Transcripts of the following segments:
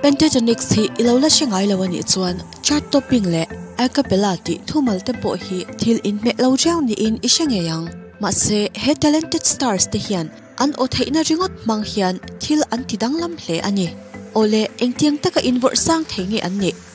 Pentatonix hi i lo la hre ngai lo a nih chuan chart topping leh a cappella tih thumal te pawh hi thil in hmeh lo riau niin i hre ngei ang. Mahse, he talented stars te hian an aw theihna ringawt hmang hian thil an ti danglam hle a ni. Awle, engtiang taka invawrh sang thei nge an nih?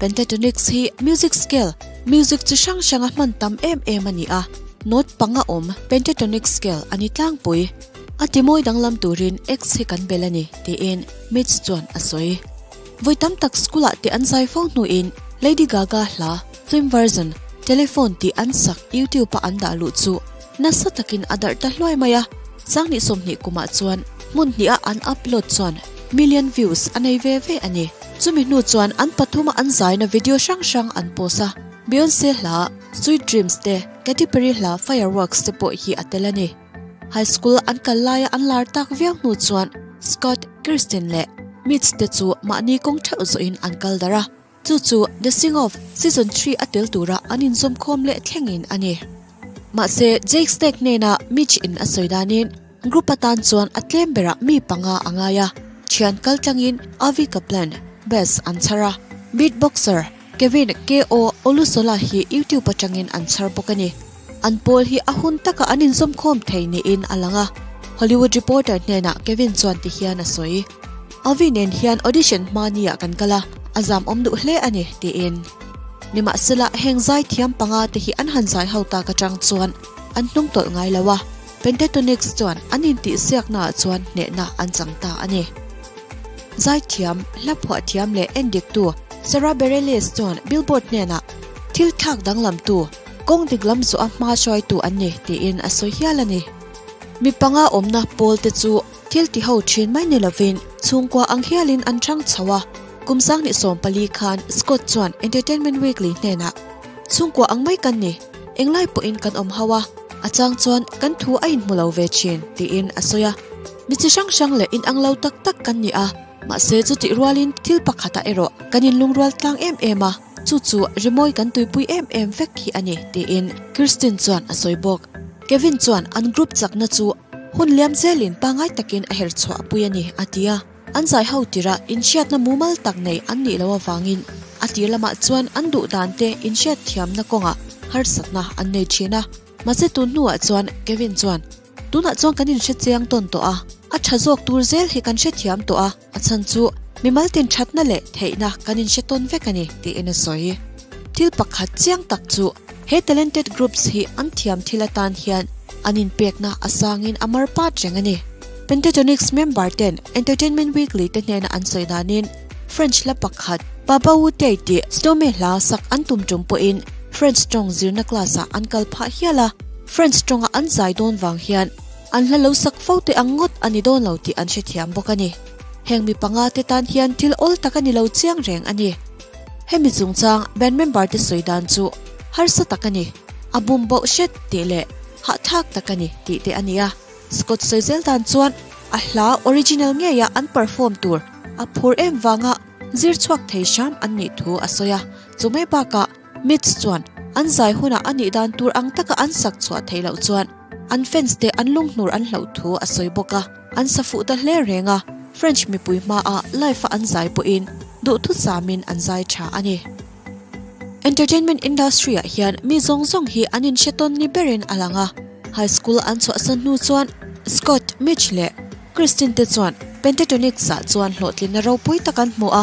Pentatonix hi music scale, music chi hrang hranga hman tam em em a ni a, note panga awm pentatonic scale a ni tlangpui. A timawi danglam turin X hi kan bel a ni, tiin Mitch chuan a sawi. Vawi tam tak school-ah teh an zai fo hnuin Lady Gaga hla, Film version, Telephone tih an sak YouTube-ah an dah luh chu, Nasa takin a darh ta hluai mai a, Sangni sawmhnih kumah chuan hmun hnih a an upload chuan million views a nei ve ve a ni. Chumi hnu chuan an pathuma an zaina video hrang hrang an post a, Beyonce hla Sweet Dreams te, Katy Perry hla Fireworks te pawh hi a tel a ni. High school an kal laia an lar tak viau hnu chuan Scott, Kirsten leh Mitch te chu mahni kawng theuh zawhin an kal darh a. Chu chu The Sing Off Season Three a tel tura an inzawm khawm leh thleng in a ni. Mahse, Jake Snake hnena Mitch in a sawi danin group atan chuan a tlem berah mi panga a ngai a, thian kal tlangin Avi Kaplan, Bass, an chhar a, Beatboxer, Kevin, KO, Olusola hi YouTube atangin an chhar bawk a ni. An pawl hi a hun taka an inzawm khawm thei niin a lang a, Hollywood Reporter hnena Kevin chuan ti hian a sawi. Avi nen hian audition hma ni ah kan kal a, a zamawm duh hle a ni, tiin. Nimahsela, heng zai thiam panga te hi an han zai ho tak atang chuan an hnung tawlh ngai lo a, Pentatonix chuan an intihsiakna ah chuan hnehna an chang ta a ni. Zai thiam, hla phuah thiam leh en diktu Sara Bareilles chuan Billboard hnenah thil thlak danglamtu, kawng dik lam zawha hma hruaitu an ni, tiin a sawi hial a ni. Mi panga awmna pawl te chu. Thil ti ho thin mai ni lovin chhungkua ang hialin an hrang chho a. Kum sang ni sawm pali khan Scott chuan Entertainment Weekly hnenah, Chhungkua ang mai kan ni, eng lai pawhin kan awm hauh a, a chang chuan kan thu a inhmu lo ve thin, tiin a sawi a. Mi chi hrang hrang leh in ang lo tak tak kan ni a, mahse chutih rualin thil pakhatah erawh kan in lungrual tlang em em a, chu chu rimawi kan tuipui em em vek khi a ni, tiin Kirsten chuan a sawi bawk. Kevin chuan an group chakna chu Hun liam zel in pangai tak in a herh chhuah a pui a ni, a ti a. An zai ho tir ah in hriat na mumal tak nei an nih lo avang in a tir lam ah chuan an duh dan te in hriat thiam na kawng ah harsat na an nei thin a. Mahse tun hnu ah chuan Kevin chuan, Tun ah chuan kan in hre chiang tawn tawh a, a tha zawk tur zel hi kan hre thiam tawh a, A chhan chu, Mimal tin thatna leh theihna kan inhre tawn vek a ni, tiin a sawi. Thil pakhat chiang tak chu, he talented groups hi an thiam thil atan hian an inpekna a sangin a mar pat reng a ni. Pentatonix member ten Entertainment Weekly te hnena an sawi danin, French la pakhat, Pa Bawu Tay tih Stomey hla sak an tum tum pawhin French tawng zirna class-ah an kal phah hial a, French tawng-a an zai dawn vang hian, An hla lo sak fo teh ang ngawt a ni dawn lo tih an hrethiam bawk a ni. Heng mi panga te tan hian thil awl tak a ni lo chiang reng a ni. Hemi chungchang band member te sawi dan chu harsa tak a ni, a bum bauh hret tih leh hahthlak tak a ni tih te a ni a. Scott sawi zel dan chuan a hla original ngeiah an perform tur a phur em vanga zir chhuak thei hram an nih thu a sawi a, chu mai bakah, Mitch chuan an zai hunah a nih dan tur ang taka an sak chhuah theih loh chuan an fans te an lunghnuar an hloh thu a sawi bawk a, an sa fuh ta hle reng a, French mipui hmaa life-a an zai pawhin duhthut samin an zai tha a ni. Entertainment industry-ah hian mi zawng zawng hi an inhre tawn ni berin a lang a, high school an chhuahsan hnu chuan Scott, Mitch leh Christine te chuan Pentatonix-ah chuan hlawhtlinna ropui tak an hmu a,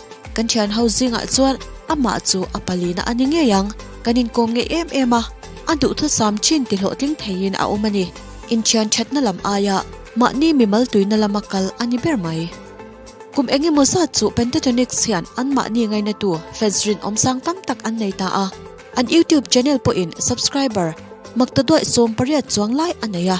Kan thian ho zingah chuan amah chu a palina a ni ngei ang, kan inkawm ngei em em a, a duhthusam thin tihlawhtling theiin a awm a ni. Inthian thatna lam aia mahni mimal tuina lama kal a ni ber mai. Kum eng emaw zat chu Pentatonix hian an mahni ngainatu fans rinawm sang tam tak an nei ta a, an YouTube channel pawhin subscriber maktaduai sawmpariat chuang lai a nei a.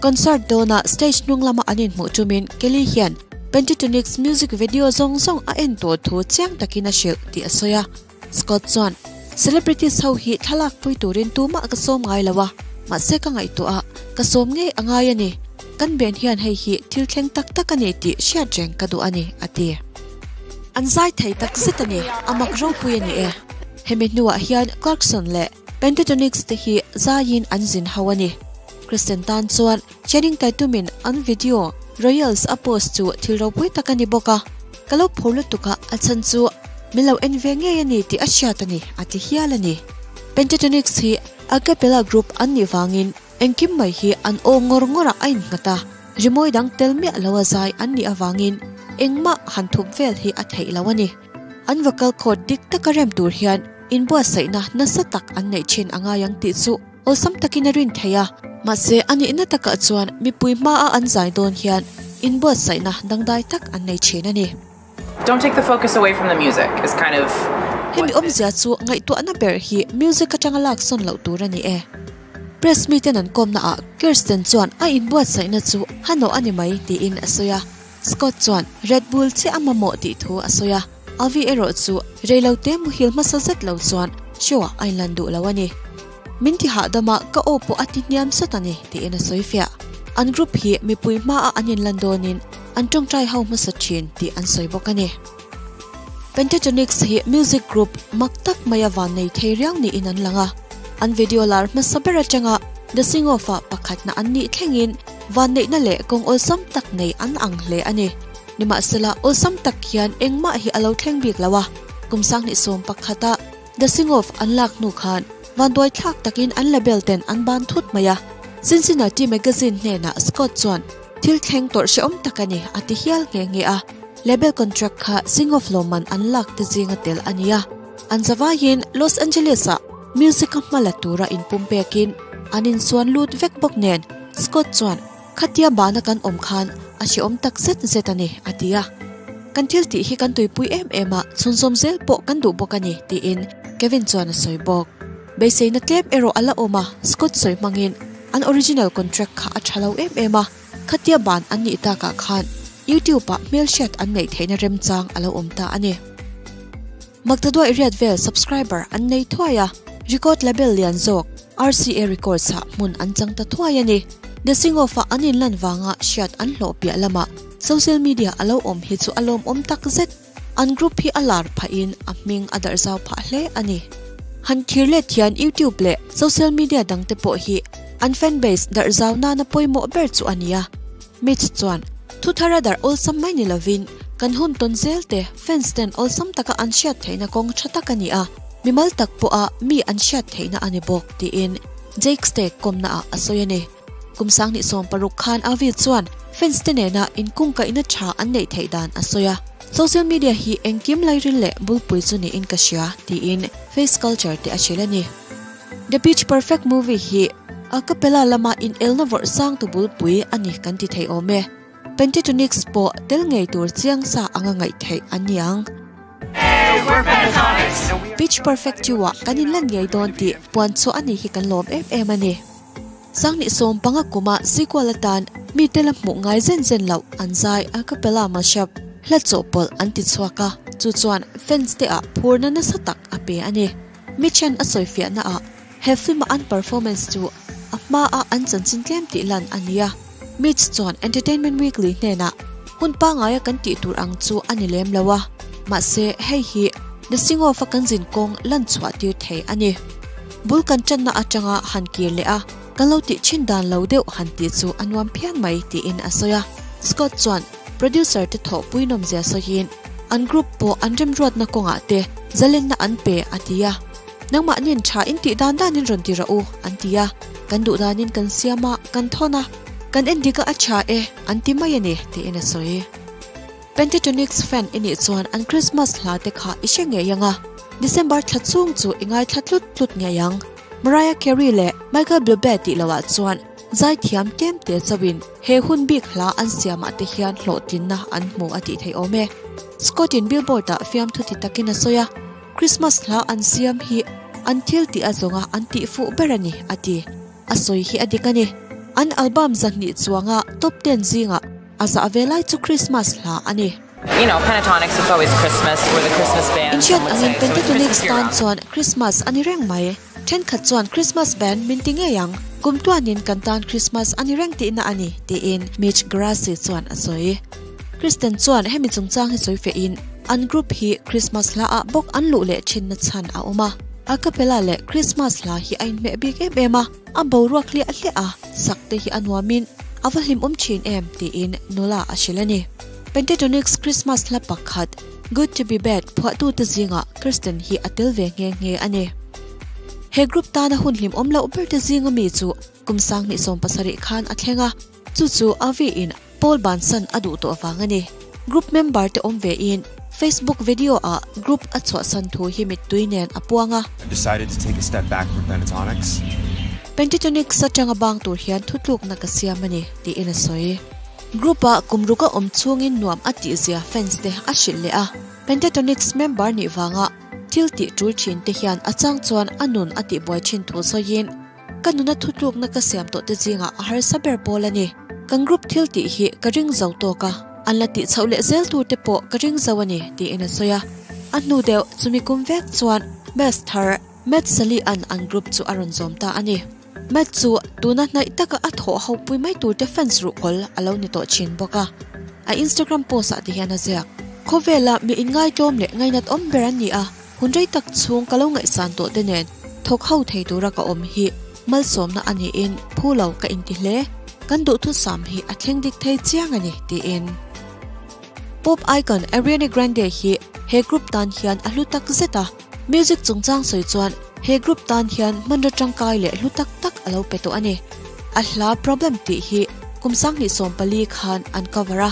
Concert dawnah stage hnung lama an inhmuh tumin Kelly hian Pentatonix music video zawng zawng a en tur thu chiang takin a hrilh tih a sawi a. Scott chuan, Celebrities ho hi thlalak pui turin tumah ka sawm ngai lo a, mahse ka ngaihtuaha ka sawm ngei a ngai a ni. Kan ben hian hei hi thil thleng tak tak a ni tih hriat reng ka duh a ni, a ti. An zai thei takzet a ni, a mak ropui a ni e. Hemi hnuah hian Clarkson leh Pentatonix te hi zaiin an zinho a ni. Christian tan chuan Channing Tatum in an video Royals a post chu thil ropui tak a ni bawk a, ka lo phur lutuk a, a chhan chu min lo en ve ngei a ni tih a hriat a ni, a ti hial a ni. Pentatonix hi a cappella group an nih vangin engkim mai hi an aw ngawr ngawr a, a inghat a, rimawi dang tel miah lo a zai an nih avangin engmah han thup vel hi a theih lo a ni. An vocal chord dik taka rem tur hian inbuatsaihna nasa tak an neih thin a ngai ang tih chu. Awlsam takin a rin thei a, mahse a nihna takah chuan mipui hmaa an zai dawn hian inbuatsaihna dangdai tak an nei thin a ni. Hemi awmzia chu ngaihtuahna ber hi music atanga laksawn loh tur a ni e. Press meet-in an kawmnaah Kirsten chuan a inbuatsaihna chu hano a ni mai tiin a sawi a. Scott chuan Red Bull chiah a mamawh tih thu a sawi a, Avi erawh chu reilo te muhil hmasa zet lo chuan show ah a inlan duh lo a ni. Min ti hahdam a, ka aw pawh a ti hniam sat a ni, tiin a sawi fiah. An group hi mipui hma ah an inlan dawnin an tawngtai ho hmasa thin tih an sawi bawk a ni. Pentatonix hi music group mak tak maia vannei thei riau niin an lang a. An video lar hmasa ber atanga The Sing Off-a pakhatna an nih thlengin vanneihna leh kawng awlsam tak nei an ang hle a ni. Nimahsela, awlsam tak hian engmah hi a lo thleng bik lo a, kum sanghnih sawm pakhata The Sing Off an lak hnu khan vanduaithlak takin an label ten an ban thut mai a. Cincinnati Magazine hnenah Scott chuan, Thil thleng tawrh hrehawm tak a ni, a ti hial nghe nghe a. Label contract kha Sing-Off lawmman an lak te zinga tel a ni a, an zavaiin Los Angeles-a music-a hma la tura inpumpekin an insuan lut vek bawk nen Scott chuan, Khatia bahna kan awm khan a hrehawm tak zet zet a ni, a ti a. Kan thiltih hi kan tuipui em em a, chhunzawm zel pawh kan duh bawk a ni, tiin Kevin chuan a sawi bawk. Beiseina tlem erawh a la awm a, Scott sawi hmangin an original contract kha a tha lo em em a. Khatia ban an nih takah khan YouTube ah hmelhriat an neih theihna remchang a lo awm ta a ni. Magda duai riat vel subscriber an nei thuai a, record label lian zawk RCA Records ah hmun an chang ta thuai a ni. The Sing Off ah an inlan vanga hriat an hlawh piah lamah social media a lo awm hi chu a lawmawm tak zet. An group hi a lar phah in a hming a darh zau phah hle a ni. Han thir let hian YouTube leh social media dang te pawh hi an fan base darh zau nana pawimawh ber chu a ni a. Mitch chuan, Thu thar a darh awlsam mai ni lovin, kan hun tawn zel te, fans ten awlsam taka an hriat theihna kawng tha tak a ni a, mimal tak pawha mi an hriat theihna a ni bawk, tiin Jake Stagg kawmna ah a sawi a ni. Kum sang hnih sawm paruk khan Avi chuan fans te nena in kungkaihna tha an neih theih dan a sawi a, Social media hi engkim lairil leh bulpui chu niin ka hria, tiin face culture te a hrilh a ni. The Pitch Perfect movie hi a capella lama inelna vawrh sang tu bulpui a ni kan ti thei awm e. Pentatonix pawh tel ngei tur chiang sa anga ngaih theih a niang. Pitch Perfect tua kan inlan ngei dawn tih puan chhuah a nih hi kan lawm em em a ni. Sangni sawm panga kawma Zikual atan mite la hmuh ngai zen zen loh an zai a capella mashup hla chawh pawlh an ti chhuak a, chu chuan fans te ah phurna nasa tak a pe a ni. Mi then a sawifiah na ah he film a an performance chu a hma a an chanchin tlem tih lan a ni a. Mitch chuan Entertainment Weekly hnenah, Hun pangaia kan tih tur ang chu a ni lem lo a, mahse hei hi The Sing-Off-a kan zin kawng lan chhuahtir thei a ni. Bul kan ṭanna aṭanga han kir leh a, kan lo tih ṭhin dan lo deuh han tih chu a nuam phian mai, tiin a sawi a. Scott chuan producer-te thawh puinawmzia sawiin, An group pawh an remruatna kawngah te zalenna an pe, a ti a. Nangmah nen tha in tih dan dan in rawn ti rah u, an ti a. Kan duhdan in kan siam a, kan thawn a, kan en dik a a tha e, an ti mai a ni, tiin a sawi. Pentatonix fan i nih chuan an Krismas hla te kha i hre ngei ang a. December thla chhung chu i ngaithla tlut tlut ngei ang. Mariah Carey leh Michael Bublé tih loh ah chuan zaithiam tlem te chauh in he hun bik hla an siam ah te hian hlawhtlin na an hmu a tih theih awm e. Scott in Billboard ah fiamthu ti tak in a sawi a. Krismas hla an siam hi an thil tih a zawnga an tih fuh ber a ni, a ti. A sawi hi a dik a ni, an album zahnih chuanga top ten zingah a zah ve lai chu Krismas hla a ni. Inhriat angin Pentatonix tan chuan Krismas a ni reng mai. Thenkhat chuan Christmas ban min ti ngei ang, kum tuanin kan tan Christmas a ni reng tihna a ni, tiin Mitch Geraci chuan a sawi. Kristen chuan hemi chungchang hi sawi fêhin an group hi Christmas hlaah bawk an luh leh thinna chhan a awm a. A capella leh Christmas hla hi a inhmeh bik em em a, a boruak hliah hliah a, sakte hi a nuamin a va hlimawm thin em, tiin Nola a hrilh a ni. Pentatonix Christmas hla pakhat. Good to be back phuahtute zingah Kristen hi a tel ve nghe nghe a ni. He group tana hun hlim awm loh berte zinga mi chu kum sang hnih sawm pasarih khan a thleng a, chu chu Avi in Paul ban san a duh tawh vang a ni. Group member te awm ve in Facebook video ah group a chhuah san thu hi mittui nen a puang a. Decided to take a step back from Pentatonix. Pentatonix atanga bang tur hian thutlukna ka siam a ni, tiin a sawi. Group ah kum ruka awm chhungin nuam a tihzia fans te a hrilh leh a. Pentatonix member nih vanga thil tih tul thin te hian a chang chuan a nun a tihbuai thin thu sawiin ka nuna thutlukna ka siam tawh te zingah a harsa ber pawl a ni. Kan group thil tih hi ka ring zo tawk a, an la tih chhoh leh zel tu te pawh ka ring zo a ni tiin a sawi a. A hnu deuh chumi kum vek chuan Maths thar Maths Sally-a'n an group chu a rawn zawm ta a ni. Matt chu tuna hnaih taka a thawh hopui mai turte fans ruhkawl a lo ni tawh chin bawk a, a Instagram post ah te hian a ziak. Khawvela mi inngaitawm leh ngainat awm ber an ni a, hun rei tak chhung ka lo ngaihsan tawh te nen thawk ho thei tura ka awm hi malsawmna a niin phu lo ka inti hle, kan duhthusam hi a thleng dik thei chiang a ni, tiin. Pop icon Ariane Grande hi he group tan hian a hlu tak zet a. Music chungchang sawi chuan he group tan hian hmanraw tangkai leh hlu tak tak a lo pe tawh a ni. A hla problem tih hi kum sanghnih sawm pali khan an cover a,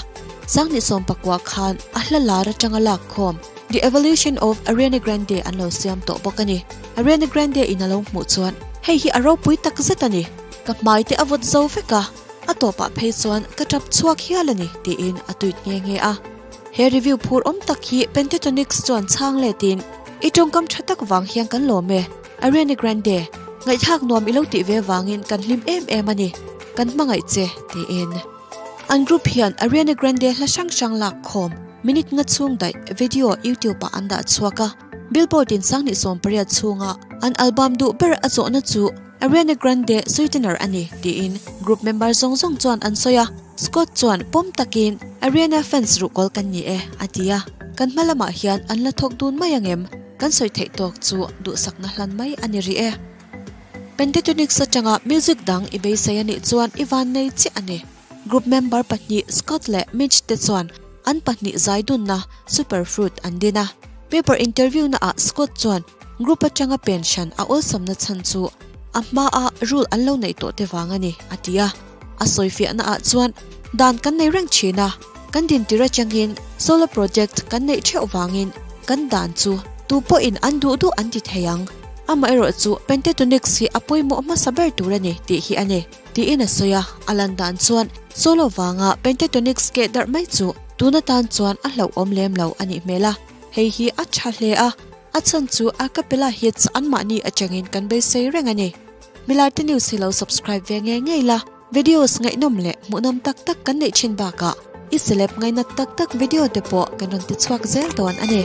sanghnih sawm pakua khan a hla lar atanga lak khawm The Evolution of Ariana Grande an lo siam tawh bawk a ni. Ariana Grande in a lo hmuh chuan hei hi a ropui tak zet a ni, ka hmai te a vawt zo vek a, a tawpah phei chuan ka tap chhuak hial a ni tiin a tuit nghe nghe a. He review phur awm tak hi Pentatonix chuan chhang le tin I tawngkam tha tak vang hian kan lawm e. Ariana Grande, Ngaihthlak nuam i lo tih ve vangin kan hlim em em a ni. Kan hmangaih che, tiin. An group hian Ariana Grande hla hrang hrang lak khawm, minute nga chhung daih, video YouTube ah an dah chhuak a. Billboard in sang ni sawmpariat chhunga an album duh ber a zawhna chu Ariana Grande sweetener a ni, tiin group member zawng zawng chuan an sawi a. Scott chuan pawm takin, Ariana fans ruhkawl kan ni e, a ti a. Kan hma lamah hian an la thawk dun mai angem? Kan sawi theih tawk chu duhsakna hlan mai a ni rih e. Pentatonix atanga music dang i beisei a nih chuan i vannei chiah a ni. Group member pahnih Scott leh Mitch te chuan an pahnih zai dunna Superfruit an din a. Paper interviewna ah Scott chuan group atanga pen hran a awlsamna chhan chu a hma a rule an lo neih tawh te vang a ni, a ti a. A sawi fiahna ah chuan, Dan kan nei reng thin a, kan din tir atangin solar project kan neih theuh vangin kan dan chu tu pawhin an duh duh an ti thei ang. Amaherawhchu, Pentatonix hi a pawimawh hmasa ber tur a ni tih hi a ni. Tiin a sawi a, a lan dan chuan solo vanga pentatonic skate darh mai chu tuna tan chuan a hlauhawm lem lo a nih hmel a, hei hi a tha hle a, a chhan chu a capella hits anmahni atangin kan beisei reng a ni. Milaite News hi lo subscribe ve ngei ngei la, videos ngaihnawm leh hmuhnawm tak tak kan neih thin bakah i celeb ngainat tak tak video te pawh kan rawn ti chhuak zel dawn a ni.